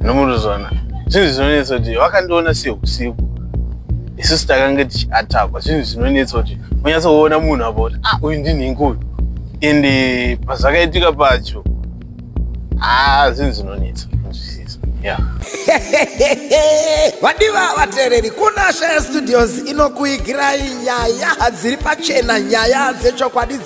nomuruzona zvinhu zvinonetsa kuti vakandiona seusiku isusu takange tichiatakwa zvinhu zvinonetsa kuti unyatsoona munhu apa kuti ah uyu ndinhingi uyu and eh, pazvakaitika pacho haa ah, zvinhu zvinonetsa kunzwisisa ya vadiva vateereri kunasha yestudios inokuigirai nyaya hadziri pachena nyaya dzechokwadi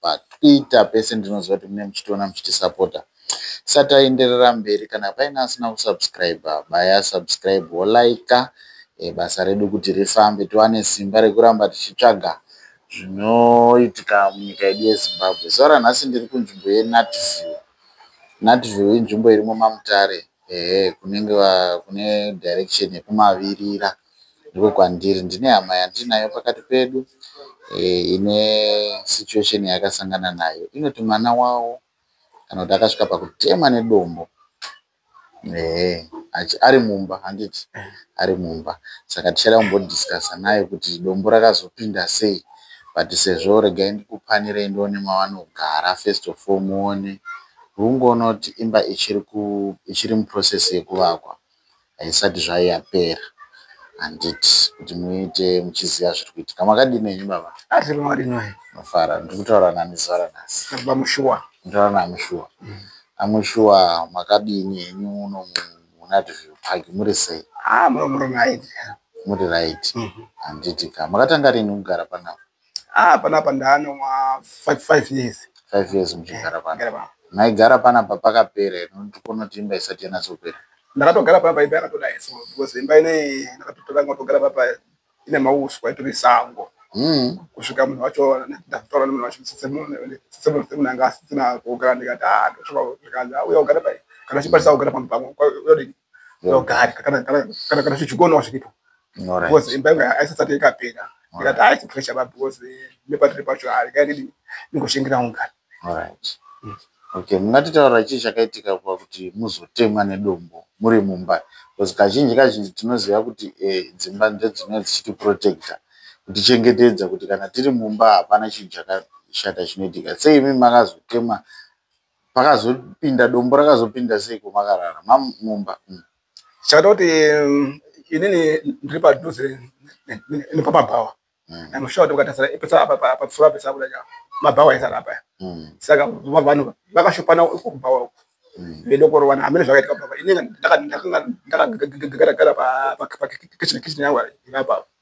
patwitter pese ndinoziva kuti mune muchitiona muchitisapota sataenderera mberi kana paine asina kusubscribe baya subscribe wolaika e, eh, basa redu kuti rifambe tiwane simba rekuramba tichitsvaga zvinoitika munyika yedu yezimbabwe zuva ranhasi ndiri kunzvimbo yenatview natview inzvimbo iri mumamutare ehe kunenge kune direction yekumavirira ndiko kwandiri ndine hama yandinayo pakati pedu eh, ine situation yakasangana nayo inoti mwana wawo kana kuti akasvika pakutemwa nedombo ehe ari mumba handiti ari mumba saka tichada kumbodiscasa naye kuti dombo rakazopinda sei but sezvo regai ndikupanirei ndione mavanogara first of all muone hungoona kuti imba ichiri muprocess yekuvakwa haisati zvayo yapera handiti kuti muite muchiziva zviri kuitika makadii nenyu baba asi vamwari nhai mafara ndiri kutaura nani zuva ranhasi baba mushuwa nditaura nani shuwa mm. amushuwa makadini henyu uno munadview park muri sei ah, muri right handiti ka makatanga rini kugara panapa Ah, panapa ndaane ma 5 years. 5 years muchigara pano. Gara pano. Maigara panapa pakapera ino ndikonoti imba isati yanatsopera. Ndakatogara panapa imba yakatoda yeso because imba ine ndakatotora ngotogara papa ine mauswa itori sango. Mm. Kusvika munhu wacho ndakutaura nemunhu wacho sese munhu sese munhu sese munhu anga asina kugara ndikati ah ndosvika zvikanzi auya ugara pai kana chipatisa kugara pamwe pamwe uyodini ndogari kana kana kana kana zvichikonawo zviripo Alright. because imba yangu aisati ikapera ndikati haisi pressure ba because nepatiri pacho harikaidi ndingoshingira ungani Alright. Okay, mungatitaura chii chakaitika kuva kuti muzotemwa nedombo muri mumba because kazhinji kazhinji tinoziva kuti eh, dzimba ndodzinenge dzichitiprotecta kutichengetedza kuti kana tiri mumba hapana chinhu chakashata chinoitika sei imi makazotemwa makazopinda dombo rakazopinda seiko makarara mamumba mm. chakata kuti mm, inini ndiri padhuze nepamabhawa mm. anoshaa kuti ukatasira ipesa patsura pesa kuda cha mabhawa aisara apa saka vanhu vakashopana kubhawa uku vedokorovana hamene zvakaitika baba inenge ndakagara pakitchen kitchen yangu ipapa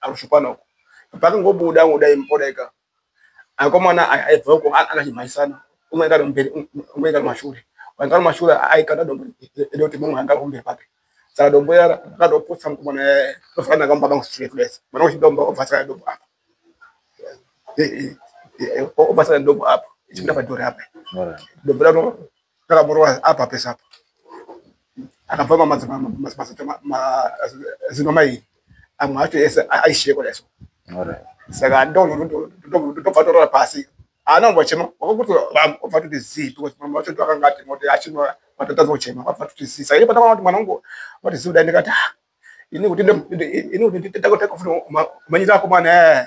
arushupana uko pakangobuda ngoda impodaika akomana aibva uko akachimhaisana umwe ngari mberi umwe ngari mashure wangari mashure aikanda dombo edo kuti mumwe anga kumberi kwake saka dombo iya rakatoputsa mukomana eh, tofana nakamba bangu straight place mwana wechidombo obvasana dombo apa obvasana dombo apa ichipinda padhori apa dombo raro ndakamurova apa pese apa akabva mamazino mai amwe acho ese aisheko daiso saka ndobva torora pasi haana kumbo chema wakakuti obva toti zii because mama wacho ndo akanga ati moti achino matotadza kuchema wabva toti zii saka ipata kuti mwana wangu wati zii kudai ndikati ah, ini kuti ini kuti nditakutakufuna umanyira akomana ee eh.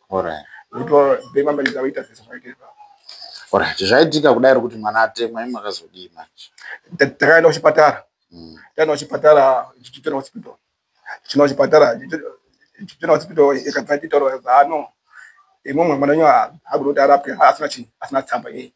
Alright. Ndipo ndimambaridza vaita zvese zvaitika. Alright, zvaitika kudai kuti mwana atemwa imwe akazodii manje. Takaenda kuchipatara. Mm. Takaenda kuchipatara chichitenda hospital. Chino chipatara chichitenda hospital ikabva titaura zano. Imwe mwana nyo agurota arapwe asina chi asina tsamba yeye.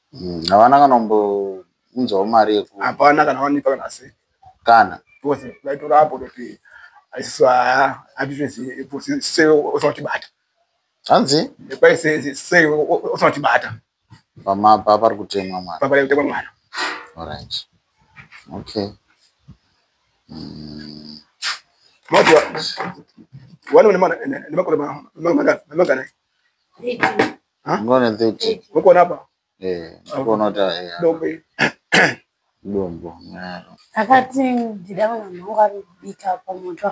Mm, havana kana kumbounzawo mari yeku hapana kana wanipa kana se kana because vaitora apo kuti asiso haa hatizvese se usautibata hanzi kwai se se usautibata pamapa pari kutemwa mwana papa yakutemwa mwana orange okay mm. mati wani nemakore nemangana Huh? I'm gonna do it. Uko napa? Eh, uko nota. Dombo. Dombo. Akati ndida vana mangu ari kubika pamoto.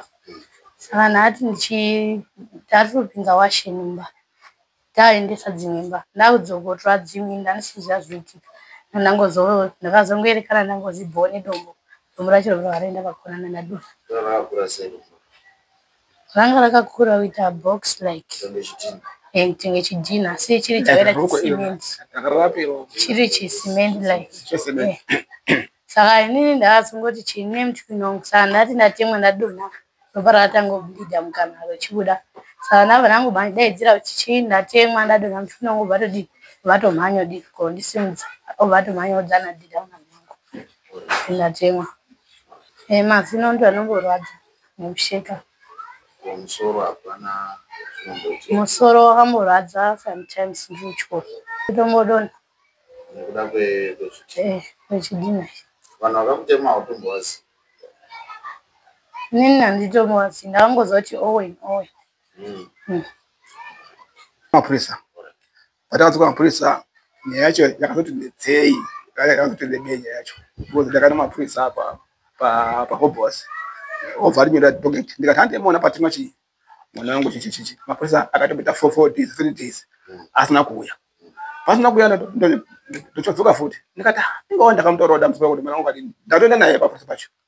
Saka ndati ndichi tari kupinza washe mumba. Taendesa dzimwe mba. Ndakudzokotora dzimwe ndandisiziva zvoitika. Ndangozo ndakazongoerekana ndangozibhowa nedombo. Dombo racho rakaenda pakonana nadona. Ndakakura sei? ranga rakakura kuita box like tenge chidhina asi chiri chakaita chicement chiri chicement like saka inini ndakazongoti chine mchwinong saka ndati ndatemwa ndadona ropa rakatangobhidha mukana rochibuda saka ndabva ndangobandidaidzira kuti chii ndatemwa ndadona mchwinong obva todii vatomhanya dii ko ndisimudza obva atomhanya odzana dhidha mwana wangu ndatemwa eh, mazino ndo anomborwadza mukusheka musoro hapana musoro wakamborwadza sometimes ndichiko tombodona nekuda kwechidina eh, vanhu vakakutema utombowazi nini handitombowazi ndakangoziva kuti owen owen hmm. Hmm. mapurisa Patakadzoka kumapurisa nyaya yacho yakazoti ndetsei yakazoti ndebei nyaya yacho because ndakana mapurisa apa pahobos obva arinyora docket ndikati handemona patima chii mwana wangu chichichichi mapurisa akatombita four four days three days asina kuuya pasina kuuya ndochodzoka futi ndikati ah, ingawa ndakamutaurawo dambudziko kuti mwana wangu kati ndatoenda naye pafurisa pacho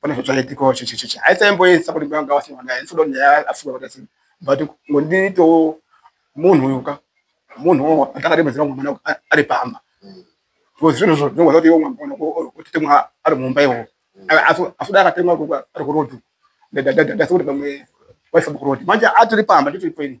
pane zvazvaitikawo chechecheche haisaimboisa kuti banga wasina naye ndinoda kuti nyaya afunga kuti asina but ngondiitawo munhu uyu ka munhu ndakademedzera mwana ari pamba because zvinhu zvo zvinogona kuti iwo mwana otitemwa ari mumba iwo asuda akatemwa ari kuroad ndasikuti pamwe waisabukuroad manje atiri pamba nditiri paini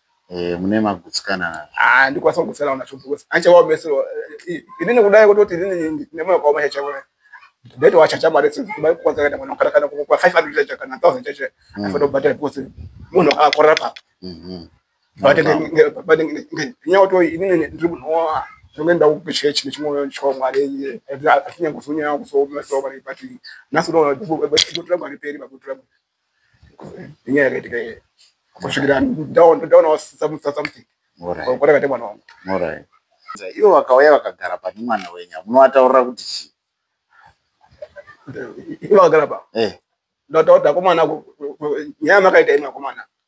Eh, mune magutsikana nazvo ah ndikwanisa kugutsikana nazvo because anchawa mese eh, ini nekudai kutoti ini nemoyo wakaoma chachawa ndaiti wachacha mari dzimai kukwanisa kaita mwana kana kana kwa 500 chacha kana 1000 chacha mm. afanira kubhadhara because munhu akakorera pa mm-hmm. but but ngenyaya kuti ini ndiri munhu wa zvimwe ndawo kuchechi nechimwoyo chwa mwari iye atinyangozonya kusomeso vari but nhasi unoona kuti vatira mwari peri vakutura inyaya yakaitika iye kusvikira ndaonawo something kwatakaita mwana wangu ivo vakauya vakagara pane mwana wenyu munovataurira kuti chii ivo vakagara pa eh. ndataurira akomana nyaya makaita imi akomana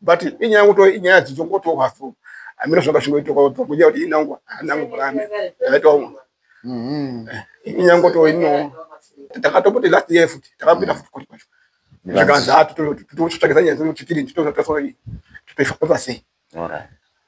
but inyaya kuto inyaya dzidzo ngoto hafu amira zvanga zvingoitwa kwato kuja kuti inangwa anangu kurame ndaitwa uno mhm. eh, inyaya ngoto ino takatopote last year futi takapita futi kuri kwacho zvakanzi haa ah, tutotsvakisa nyaya dzedu chikiri titozotasori tutoifa kwepasei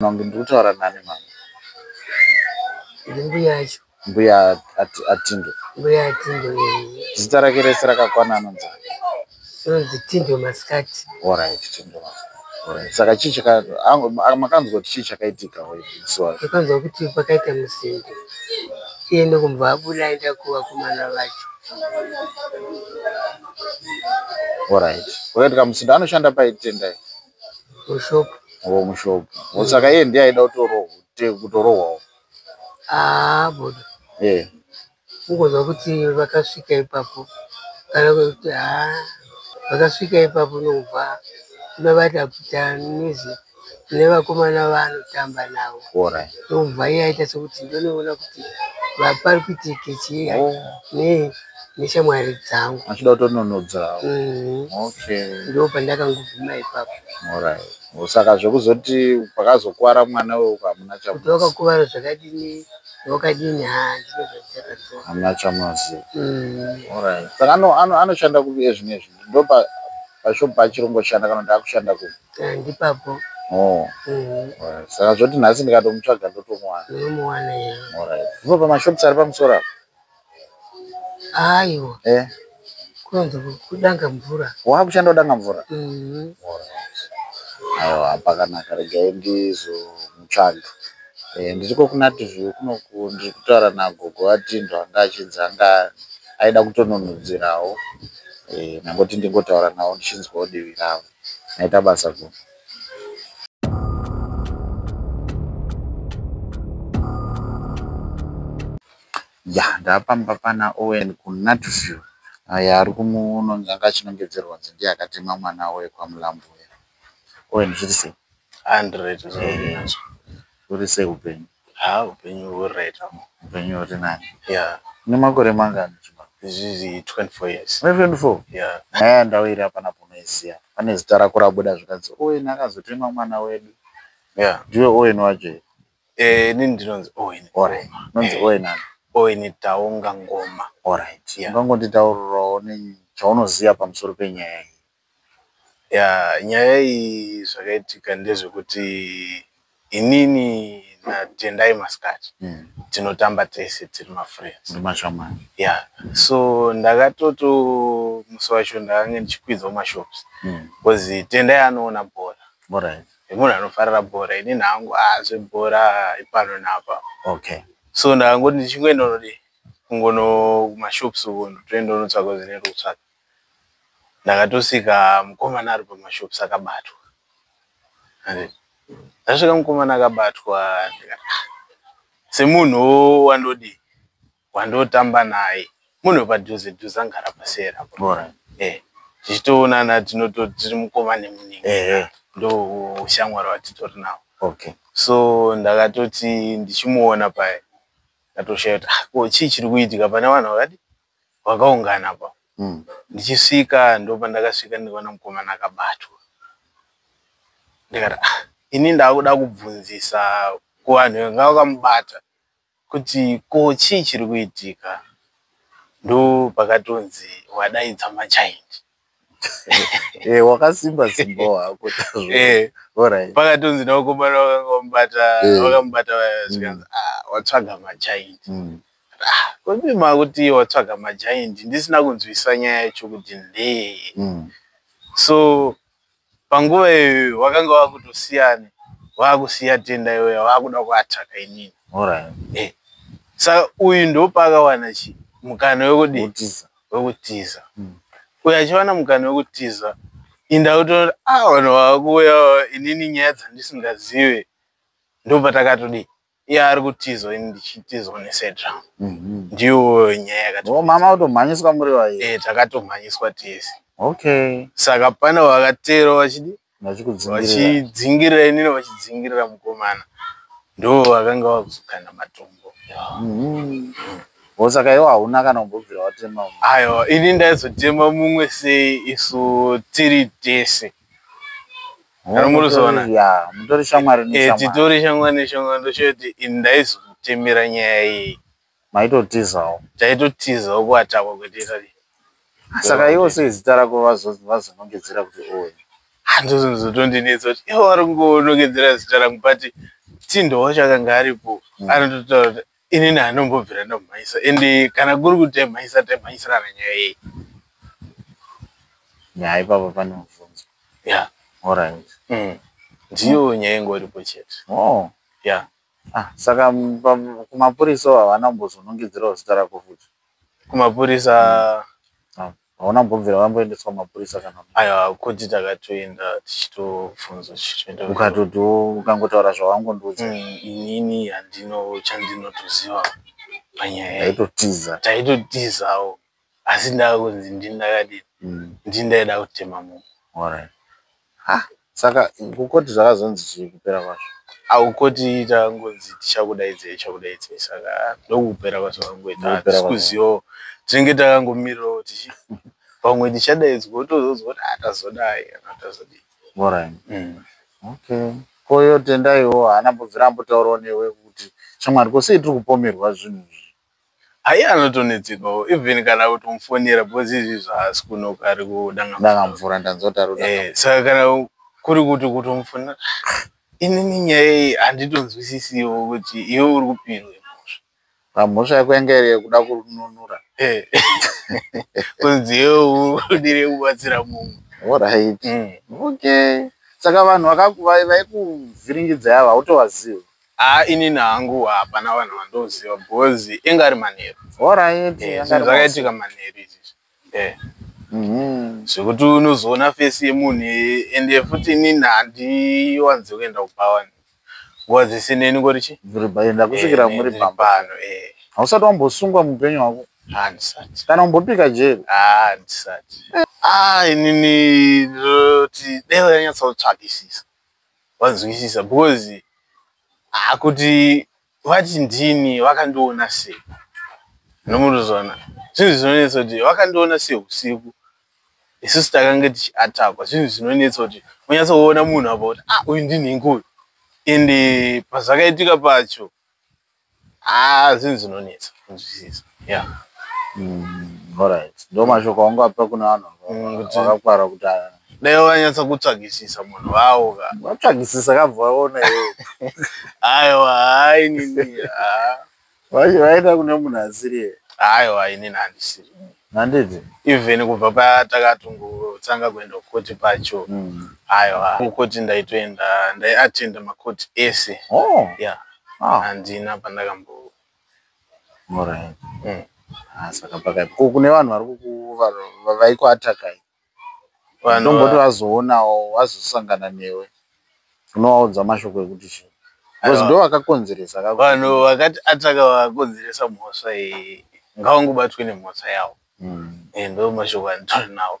Mambo ndiri kutaura nani mama? Mbuya yacho. Mbuya Atindo. Mbuya Atindo. Zita rake rese rakakwana anonzi. Anonzi Tindo Masikati. All right, Tindo Masikati. Saka chii chaka makanzwa kuti chii chakaitika wezuva? Makanzwa kuti pakaita musindo. Iye ndokumva abuda aenda kuvakomana vacho. All right. Wakaita kamusindo anoshanda paitendai. mushopu wo mushopu mm. saka iye ndiye aida kutorohwawo aa ah, bodo yeah. ungonzwa kuti vakasvika ipapo kana kuti haa ah, vakasvika ipapo nokubva ndovati apfuta nizi nevakomana vaanotamba navo nokubva iye aita sekuti ndonoona kuti vapari kuitike chii oh. nei neshamwari dzangu achida kutononodzawo mm. okay ndo pandakangobvuma ipapo alright saka zvekuzoti pakazokuwara mwana wewe ukamuna chakuti wakakuvara zvakadini wakadini hamuna chamazi mm. alright saka anoshanda kupi ezvino ezvi ndo pashop pachirungo shanda kana kuti akushanda kupi eh, ndipapo Oh. Mm. saka zvoti nhasi ndikatomutsvaga ndotomuwana unomuwana ivo pamashops ari pamusoro apo Ayo. Eh. Kwanza kudanga mvura. Wa kushanda kudanga mvura. Mhm. Ayo apa kana karega ndizo mutsvaga. Eh ndiko kuna TV kuno kundi kutaura na gogo atindwa ngachinzanga aida kutononudzirawo. Eh nangoti ndingotaura nawo ndichinzwa odivi ravo. Naita basa gogo. ya ndapamba pana owen kunatview aye ari kumuunonzi anga achinongedzerwa kunzi ndiye akatema mwana avo wekwamulambo uya owen zviri sei andret zviri sei upenyu ha upenyu huri right upenyu huri nani ya une makore mangani izvizvi 24 years 24 ya nyaya yandawira pana punoisiya pane zita rako rabuda zvikanzi owen akazotema mwana wedu ya ndiwe owen wacho Eh, nini ndinonzi Owen. Owen. Nonzi eh, Owen ani? Owen Taonga Ngoma. All right. Yeah. Ungangonditaurirawo chaunoziva pamusoro penyaya iyi. Yeah, nyaya iyi zvakaitika ndezvekuti inini natendai masikati hmm. tinotamba tese tiri mafriends yeah so ndakatoto musi wacho ndakange ndichikwidzawo mashops hmm. bcause tendai anoona bhora nemunhu anofarira bhora ini nhangu a ah, zvebhora ipano napa okay so ndakangoti ndichingoenda unodi kungono kumashops uko ndotoenda unotsvaka zvine rutsvaka ndakatosvika mukomana ari pamashops akabatwa ndasvika mukomana akabatwa ah, semunhu wandodii wandotamba naye munhu padhuze dhuze angara pasera eh tichitoonana tinoto tiri mukoma nemuningi eh, eh. ndo ushamwari watitori nawo okay so ndakatoti ndichimuona paye ndatoshaya kuti ah, ko chii chiri kuitika pane vanhu vakati vakaungana pa mm. ndichisvika ndo pandakasvika ndikaona mukomana akabatwa ndikati ah, ini ndaakuda kubvunzisa kuvanhu vanga vakamubata kuti ko chii chiri kuitika ndopakatonzi wadaidza machild eh, wakasimba simba wako eh, pakatonzi nawakomana wakamubata eh. wakamubata zvikanzi mm. ah, watsvaga machild mm. ah, kodi makuti watsvaga machild ndisina kunzwisa nyaya yacho kuti ndee mm. so panguva iyoyo wakanga wakutosiyana wakusiya tenda iyoyo wakuda kuatsvaka inini eh, saka uyu ndopaakawana chi mukana wekudii wekutiza hmm. uyo achiwana mukana wekutiza inda kutoona a ah, vanhu vakuuya inini nyaya dzandisingazive ndopatakatodii iye ari kutizwa ini ndichitizwa nesedra mhm. ndiyo nyaya yakati oh, mama utomhanyiswa muri vaye eh, takatomhanyiswa tese okay saka pane vakatero vachidi vachidzingirira inini vachidzingirira mukomana ndo vakanga vakuzokana matombo mhm. oh, saka iwo hauna kana kumbobvira watema aiwa ini ndaizotema mumwe sei isu tiri tese mutori shamwari eh, titori shamwari neshamwari ndochoti ini ndaizotemera nyaya iyi maitotizawo taitotizawo kuatapa kweteta saka iwo sei zita rako vazonongedzera kuti owe handozozotondinetsa kuti iwo vari kungonongedzera zita rangu but tindowo chakanga aripo mm. anototaura kuti inini anombobvira ndomhanyisa ende kana kuri kuti taimhanyisa taimhanyisirana nyaya yei nyaya ipapa pane mubvunzo ya orit mm. ndiyo nyaya ingoripo chete oh. ya ah, saka kumapurisa havana kumbozonongedzerawo zita rako futi kumapurisa mm. hauna kumbobvira vamboendeswa mapurisa kana aiwa kuti takatoenda tichitofunza tichitoenda ukatotiwo ukangotaura zvawangondiudza mm, inini handino chandinotoziva panyaya taitotiza taitotizawo asi ndakunzi ndindakadini mm. ndindaida kutema munhu Ha, saka kukoti zvakazonzi chii kupera kwazvo? Ah, kukoti tangonzi tichakudaidzei chakudaidzei saka ndokupera kwazvakangoita. Ndokupera Hatisi kwazvo. kuzivawo. Tinenge takangomirirawo tichi pamwe tichadaidzwa wotozonzwa kuti ah tazodai kana kuti tazodii. Alright. Mm. Okay. Ko iye Tendaiwo haana kumbobvira ambotaurawo newe kuti shamwari ko sei tiri kupomerwa zvinhu izvi? Ayi anotonetsekawo even kana utomfonera because izvi zvaasi kunoka ari kudanga danga mvura ndanzwa kuti ari kudanga eh saka kana kuri kuti kutomfonera inini nyaya iyi handitonzwisisiwo kuti iwe uri kupirwe mhosva pamhosva yako yanga iri yekuda kununura eh kunzi iwe udire kubatsira mumwe orit mm. okay saka vanhu vaikuvhiringidzai ava hautovazivi haa inini hangu hapana vanhu vandoziva because inga ari manheru orit eh, zvinhu zvakaitika manheru izvizvi eh. mhm. zvekuti unozoona fesi yemunhu ende futi inini handiwanzi kuenda kubhawani nguva dzese neni ngori chi enda kusvikira eh, muri pambano hausati wambosungwa muupenyu hwako handisati kana umbopika jeri handisati ah, inini ndinoti dai vanyatsotsvakisisa vanzwisisa because ah, kuti vati ndini vakandiona sei nomuruzona zvinhu zvinonetsa kuti vakandiona sei usiku isusu takange tichiatakwa zvinhu zvinonetsa kuti unyatsoona munhu apa kuti ah uyu ndinhingi uyu ende pazvakaitika pacho ah zvinhu zvinonetsa kunzwisisa yeah mm, alright ndo mashoko aunga pa kuna vanhu mm, vakakwara kuti dai wanyatsa kutsvagisisa munhu vawo ka vatsvagisisa kabva vaona iwe aiwa hai nini vaita kune munhu asiri aiwa inini handisiri handiti even kubva paya takatongotsanga kuenda kukoti pacho mm. aiwa kukoti ndaitoenda ndaiatenda makoti ese oh. yeah. ah. handina pandakambo right. mm. ah, saka pakaipa kune vanhu vari kukuva vaikuatakai ndomboti vazoonawo vazosangana newe unovaudza mashoko ekuti chii because ndo vakakonzeresa vanhu vakati ataka vakakonzeresa mhosva iyi ngavangobatwe nemhosva yavo hmm. eh, ndo mashoko anditori nawo